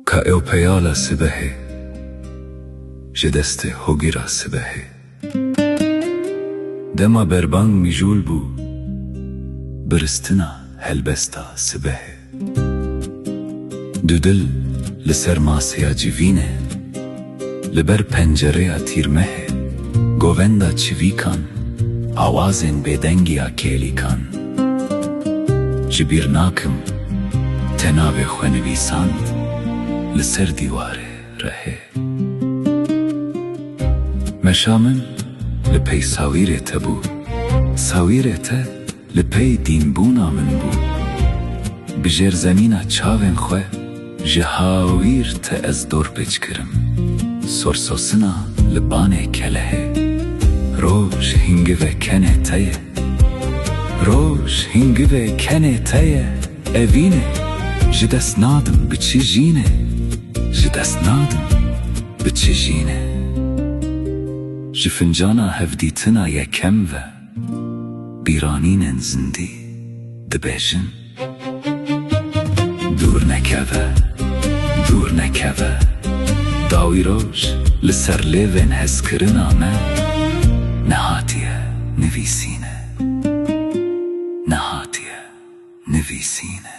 Ka ew peyala sibehê. Ji destê hogîra sibehê. Dema berbang mijûl bû. Biristina helbesta sibehê. Du dil li ser masêya civînê. Li ber pencereya tîrmehê govenda çivîkan, awazên bêdengî ya kêlîkan. Ji bîr nakim te navê xwe nivîsand li ser dîwarê rehê. Meşa min li pey sawîrê te bû, sawîrê te. Li pey dînbûna min bû. Bi jêrzemîna çavên xwe ji hawîr te ez dorpêç kirim. Sorsosina li banê kelehê. Roj hîngive kenê te ye. Roj hîngive kenê te ye, evîne. Ji dest nadim bi çi jîne. Ji dest nadim bi çi jîne. Ji fincana hevdîtina yekem ve. Bîranînên zindî dibêjin. Dûr nekeve, dûr nekeve. Dawî roj li ser lêvên hezkirina me nehatiye nivîsîne, nehatiye nivîsîne.